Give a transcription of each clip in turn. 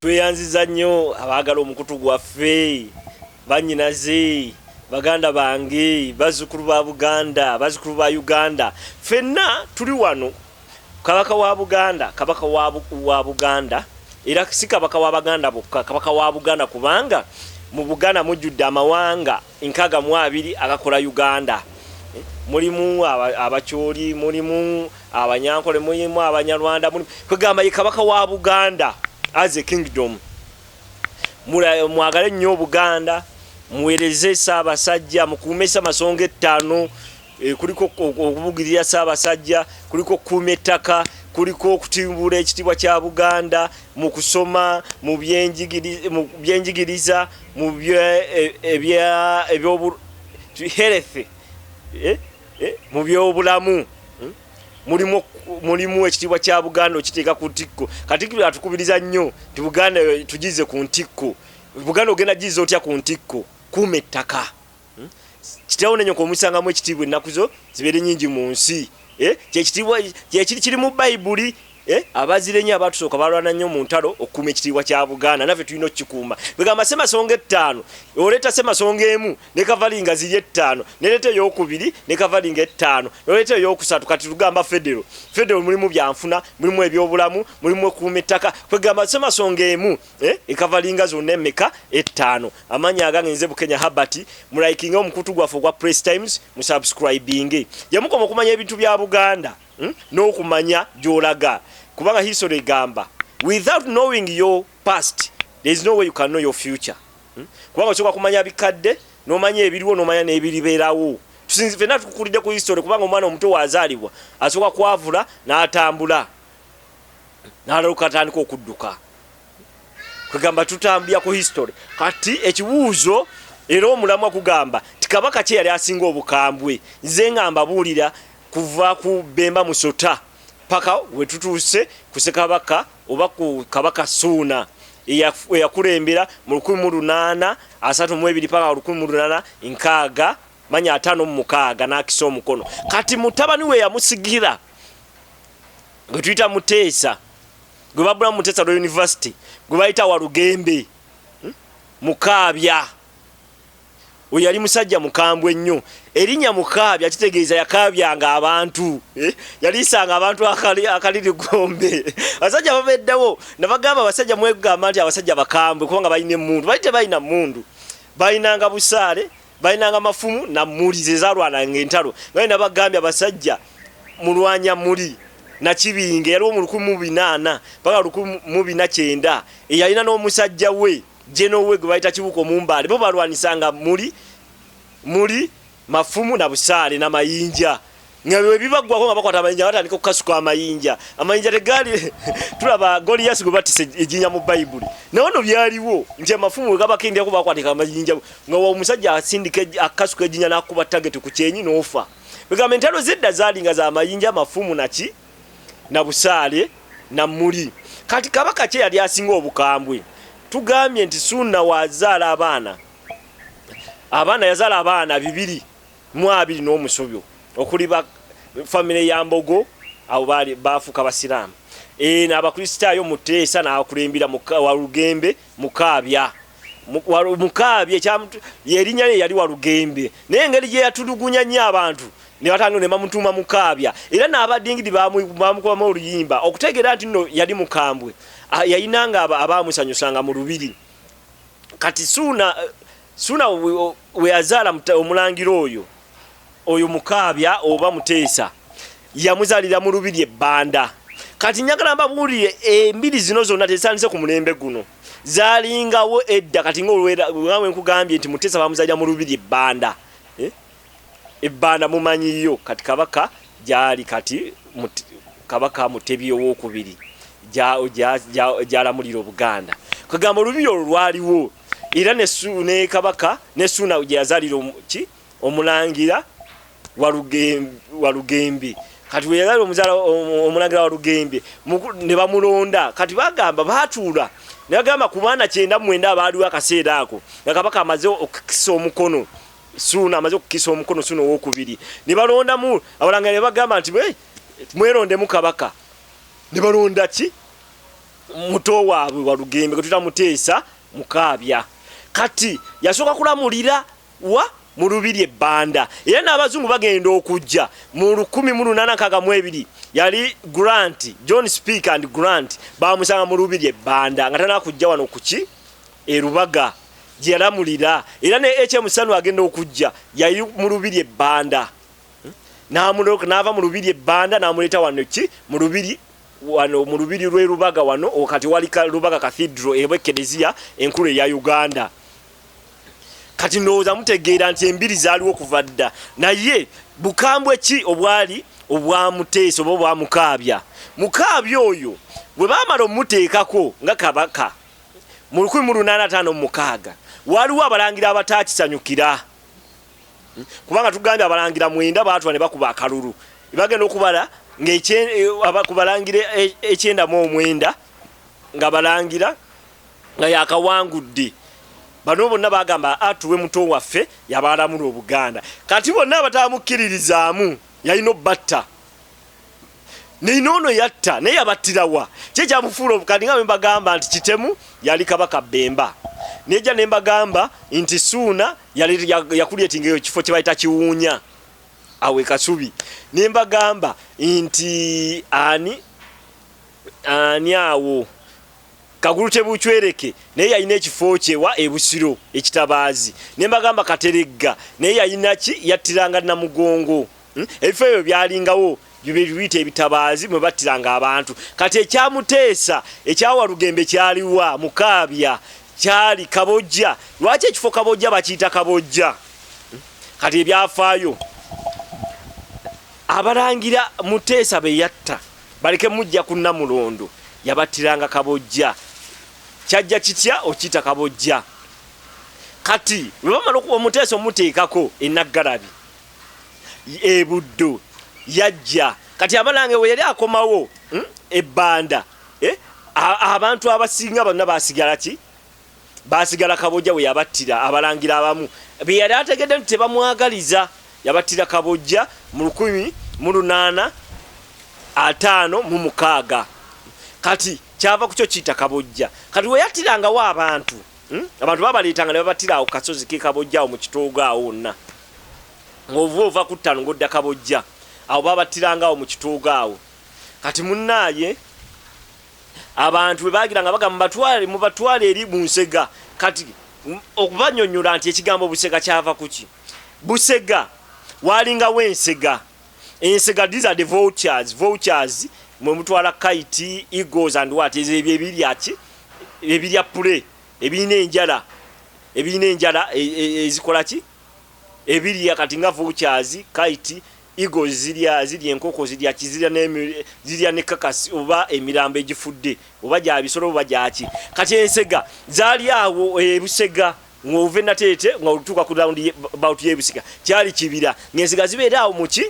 tweyanziza nnyo abaagala omukutu gwaffe banyinaze baganda bange bazzukulu ba buganda bazzukulu ba uganda fenna tuli wano kabaka wa buganda kabaka wa buganda era si kabaka wa baganda bokka kabaka wa buganda kubanga mu buganda mujjudde amawanga nkaga mu abiri agakola Uganda. Mulimu Abacholi, mulimu Abanyankole, mulimu Abanyarwanda, mulimu kwegamba ye kabaka wa Buganda as a kingdom. Mwagale nnyo Obuganda, muwereze Ssaabasajja, mukuume Ssamasonga ettaano. Eh, kuliko okubugirira Ssaabasajja, kuliko okukuuma ettaka, kuliko okutimbula ekitiibwa kya Buganda mu kusoma, mu byenjigiriza, mu eh, health, eh, mu byobulamu. Hmm? Mulimu ekitiibwa kya Buganda okiteeka ku ntikko. Katikkiro atukubiriza nnyo nti Buganda tugize ku ntikko. Buganda ogenda giza otya ku ntikko? Kuuma ettaka. kitaawo ne nyoko omusangamu ekitiibwa ennaku zo zibeere nyingi mu nsi eh, kyekitiibwa kyekiri kiri mu bayibuli eh, abazire nnyo abaatusooka balwana nnyo mu ntalo okukuuma ekitiibwa kya buganda naffe tulina okukikuuma begamba semasonga ettaano oleeta semasonga emu ne kavalinga ziri ettaano neleeta eyokubiri ne kavalinga ettaano noleeta eyokusatu kati tugamba federo federo mulimu byanfuna mulimu ebyobulamu mulimu ekuuma ettaka kwegamba semasonga emu Eh, ekavalinga zonna emeka ettaano amanya agange nze bukenya habert mulayikinga omukutu gwaffe ogwa press times musubscribinge yamukoma okumanya ebintu bya buganda hmm? n'okumanya gyolaga kubanga history egamba without knowing your past there is no way you can know your future hmm? kubanga osobola kumanya bikadde n'omanya ebiriwo n'omanya n'ebiriberawo tusinzi fenna tukukulidde ku history kubanga omwana omuto wazaalibwa asobola kwavula n'atambula n'alaloka atandika okudduka kwegamba tutambulira ku history kati ekibuuzo era omulamwa kugamba ti kabaka kye yali asinga obukambwe nze nga mbabuulira kuva ku bemba musota paka wetutuuse ku sekabaka oba ku kabaka suuna eyakulembera mu lukumi mu lunaana asatu mu ebiri paka olukumi mu lunaana nkaaga manya ataano mu mukaaga n'akisa omukono kati mutabani we yamusigira gwe tuyita muteesa gwe babula muteesa lwa univesity gwe bayita walugembe hmm? mukaabya oyo yali musajja mukambwe nnyo erinnya mukaabya kitegeeza yakaabyanga abantu eh? yaliisanga abantu akaliri gombe abasajja babeddawo nabagamba abasajja mwegamba nti abasajja bakambwe kubanga balina emundu bali tebalina mundu balinanga busaale balinanga mafumu na muli zezalwananga entalo nga ina bagambye abasajja mulwanya muli nakibinge yaliwo mu lukumi mu binaana paka lukumi mu bina kyenda eyalina n'omusajja we jeno we gwe bayita kibuko mumbaale bo balwanisanga muli muli mafumu na busaale na mayinja nga bwe bibaggwako nga bakwata amayinja batandika okukasuka amayinja amayinja tegaali tulaba goliyasi gwe batisa ejinja mu bayibuli naye ono byaliwo nti amafumu we gabako endyako bakwatika amayinja nga omusajja asindika akasuka ejinja n'akuba tageti ku kyenyi n'ofa egamba entalo zedda zaali nga za mayinja amafumu naki na busaale na muli kati kabaka kye yali asinga obukambwe tugambye nti suuna wazaala abaana abaana yazaala abaana bibiri mu abiri n'omusobyo okuli ba famire ya Mbogo abo baali baafuuka Basiraamu eno eh, Abakristaayo mu Teesa n'akulembera Walugembe Mukaabya Mukaabya erinnya lye yali Walugembe naye engeri gye yatulugunya nnyo abantu ne batandika ne bamutuuma Mukaabya era n'abadingidi baamukubamu oluyimba okutegeera nti nno yali mukambwe ah, yayinanga abaamusanyusanga mu lubiri kati suuna Suna weyazaala omulangira oyo oyo mukaabya oba muteesa yamuzalira mu lubiri ebbanda kati njagala mbabuulire embiri zino zonna tezitandise ku mulembe guno zalingawo edda kati ngaolwerawe nkugambye nti muteesa bamuzalira mu lubiri ebbanda eh? Ebbanda mumanyi yo kati kabaka gyali kati mut, kabaka mutebi owokubiri gyalamulira obuganda kwegamba olubiri olwo lwaliwo era ne, ne kabaka ne suuna gyeyazalira ki omulangira walugembe kati weyazalira omuzala omulangira walugembe ne bamulonda kati bagamba batuula nebagamba ku baana kyenda mwenda abaaliwo akaseera ako nga kabaka amaze okukisa omukono Suuna amaze okukisa omukono Suuna owokubiri ne balondamu abalanga ne bagamba nti mwerondemu kabaka ne balonda ki muto waabwe walugembe gwe tuta muteesa mukaabya kati yasooka kulamulira wa mu lubiri ebbanda era n'abazungu bagenda okujja mu lukumi mu lunaana nkaaga mu ebiri yali grant john speak and grant bamusanga mu lubiri ebbanda nga tanakujja wano kuki e Lubaga gye yalamulira era ne HM Sanu agenda okujja yali mu lubiri e Banda n'amuloka n'ava mu lubiri e Banda n'amuleeta wano ki mu lubiri wano mu lubiri lw'e Lubaga wano kati wali Lubaga Cathedral eba ekkereziya enkulu eya Uganda kati ndowooza mutegeera nti embiri zaaliwo kuva dda naye bukambwe ki obwali obwamuteesa oba obwamukaabya mukaabya oyo bwe baamala omuteekako nga kabaka mu 1856 waliwo abalangira abataakisanyukira hmm? kubanga tugambye abalangira mwenda baatula ne bakuba akalulu bagenda okubala ngakubalangira eh, eh, ekyendamu omwenda nga balangira nga yakawangudde bano bonna bagamba atuwe ah, muto waffe yabaalamula obuganda kati bonna abatamukkiririzaamu yalina obatta naye noono yatta naye yabattirawa ki ekyamufuula obukadi nga bwembagamba nti kitemu yali kabaka bemba neja nembagamba nti suuna yakulyetinga eyo kifo kyebayita kiwuunya awe kasubi nembagamba nti ani ani awo kagulu tebucwereke naye yalina ekifo kyewa ebusiro ekitabaazi nembagamba kateregga naye yalinaki yattiranga namugongo Hmm? ebifo ebyo byalingawo bibiyita ebitabaazi mwe battiranga abantu kati ekyamuteesa ekyawalugembe kyaliwa mukaabya kyali kabojja lwaki ekifo kabojja bakiyita kabojja hmm? kati ebyafaayo abalangira muteesa be yatta baleke mujja ku namulondo yabattiranga kabojja kyajja kitya okiyita kabojja kati lwe bamala okuba omuteesa omuteekako enaggalabi e Buddu yajja kati abalange we yali akomawo hmm, e Banda eh, abantu abasinga bonna basigala ki basigala kabojja we yabattira abalangira abamu be yali ategedde nti tebamwagaliza yabattira kabojja mu lukumi mu lunaana ataano mu mukaaga kati kyava ku kyo kiyita kabojja kati we yattirangawo abantu hmm, abantu babaleetanga ne babattira awo kasozi ke kabojja awo mu kitoogo awo wonna ng'ovuba ova ku ttaano ng'odda Kabojja. Awo baabattiranga awo mu kitoogo awo. Kati munnaaye, abantu bwe baagira nga bagamba mubatwale mubatwale eri Bunsega, kati okubanyonyola nti ekigambo Busega kyava ku ki? Busega waalingawo ensega, ensega these are the vultures, vultures mwe mutwala kite, eagles and what, ezo ebyo ebirya ki ebirya pule ebirina enjala ebirina enjala e, e, e, ezikola ki ebirya kati nga vultures, kite, eagles zirya zirya enkoko zirya ki zirya ne zirya ne kakas oba emirambo egifudde oba gya bisolo oba gyaki kati ensega zali awo ebusega ng'ove nateete nga olutuuka ku round about y'ebusega kyali kibira ng'ensega zibeera awo muki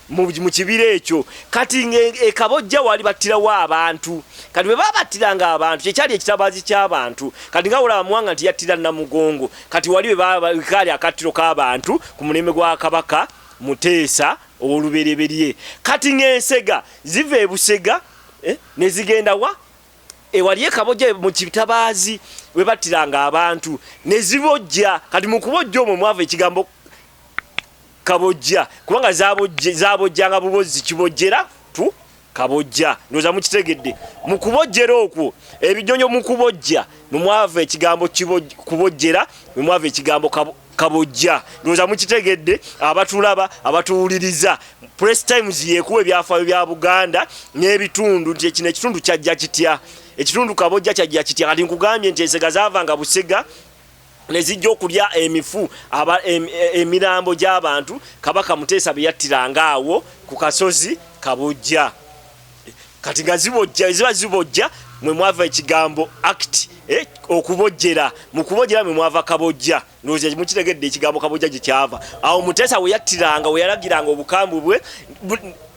mu kibira ekyo kati ng'ekabojja e, e waali battirawo abantu kati bwe babattiranga abantu kyekyali ekitabaazi ky'abantu kati nga olaba muwanga nti yattira namugongo kati wali wekaali akattiro k'abantu ku mulembe gwa kabaka muteesa ow'olubereberye kati ng'ensega ziva ebusega eh, ne zigenda wa ewali ekabojja mu kitabaazi we battiranga abantu ne zibojja kati mu kubojja omwo mwava ekigambo kabojja kubanga zabojjanga bubozzi kibojjera tu kabojja ndoza mukitegedde mu kubojjera okwo ebinyonyo mu kubojja mwe mwava ekigambo kubojjera mwe mwava ekigambo kabojja ndoza mukitegedde abatulaba abatuwuliriza press times yekuwa ebyafaayo bya buganda n'ebitundu nti ekino ekitundu kyajja kitya ekitundu kabojja kyajja kitya kati nkugambye nti ensega zavanga busega ne zijja okulya emifu emirambo gy'abantu kabaka muteesa be yattiranga awo ku kasozi kabojja kati nga zibojja eziba zibojja mwe mwava ekigambo act eh, okubojjera mu kubojjera mwe mwava kabojja ndowooza mukitegedde ekigambo kabojja gye kyava awo muteesa we yattiranga we yalagiranga obukambwe bwe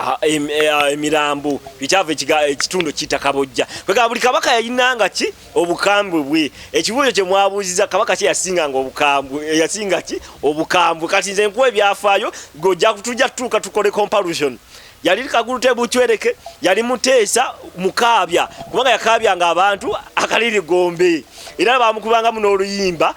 Ah, eh, ah, emirambo bikyava ekitundu kiyita kabojja kwegamba buli kabaka yalinanga ki obukambwe bwe ekibuuzo kye mwabuuziza kabaka kye yasinganga obukambwe eh, yasinga ki obukambwe kati nze nkuwa ebyafaayo gojja kutujja tutuuka tukole compalusion yali kagulu tebucwereke yali muteesa mukaabya kubanga yakaabyanga abantu akaliri gombe era bamukubanga muno oluyimba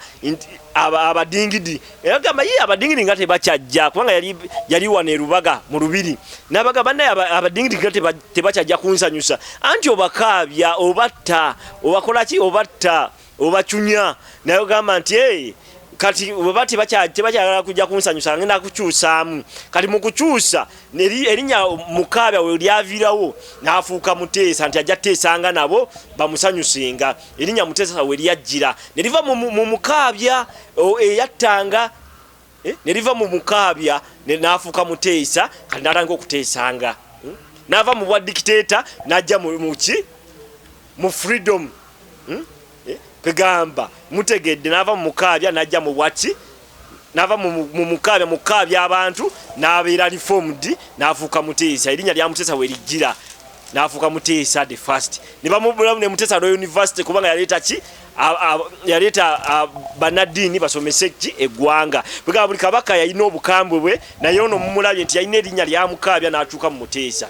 abadingidi yagamba ye abadingiri nga tebakyajja kubanga yali yali wano erubaga mu lubiri nabaga banaye abadingiri nga tebakyajja kunsanyusa anti obakaabya obatta obakolaki obatta obacunya naye ogamba nti e kati weba tebakyagala kujja kunsanyusa ngenda kukyusaamu kati mu kukyusa erinnya mukaabya we lyaviirawo n'afuuka muteesa nti ajja teesanga nabo bamusanyusenga erinnya muteesa we lyajjira ne liva mu mukaabya eyattanga eh, ne liva mu mukaabya n'afuuka muteesa kati n'atandika okuteesanga hmm? n'ava mu bwa dikiteeta n'ajja mu ki mu freedom hmm? eh, kwegamba mutegedde n'ava mu mukaabya n'ajja mu bwaki nava mumukaabya mukukaabya abantu nabeera reformed nafuuka muteesa erinnya lya muteesa werijjira nafuuka muteesa the first nebamubulamu ne muteesa lwa university kubanga yaleeta ki yaleeta banaddiini basomese ki eggwanga bwegaba buli kabaka yalina obukambwe bwe naye ono mumulabye nti yalina erinnya lyamukaabya n'akyuka mu muteesa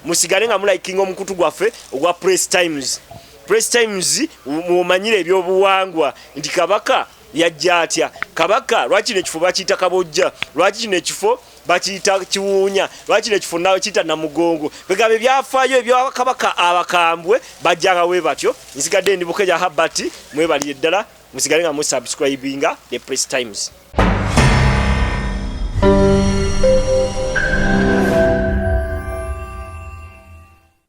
musigale nga mulayikinga omukutu gwaffe ogwa press times press times mumanyire ebyobuwangwa nti kabaka yajja atya kabaka lwaki kino ekifo bakiyita kabojja lwaki kino ekifo bakiyita kiwuunya lwaki nekifo nakiyita namugongo kwegamba ebyafayo ebyakabaka abakambwe bajjanga we batyo nsigadde ndi bukeja habati mwebalire ddala musigale nga musubscribinga the press times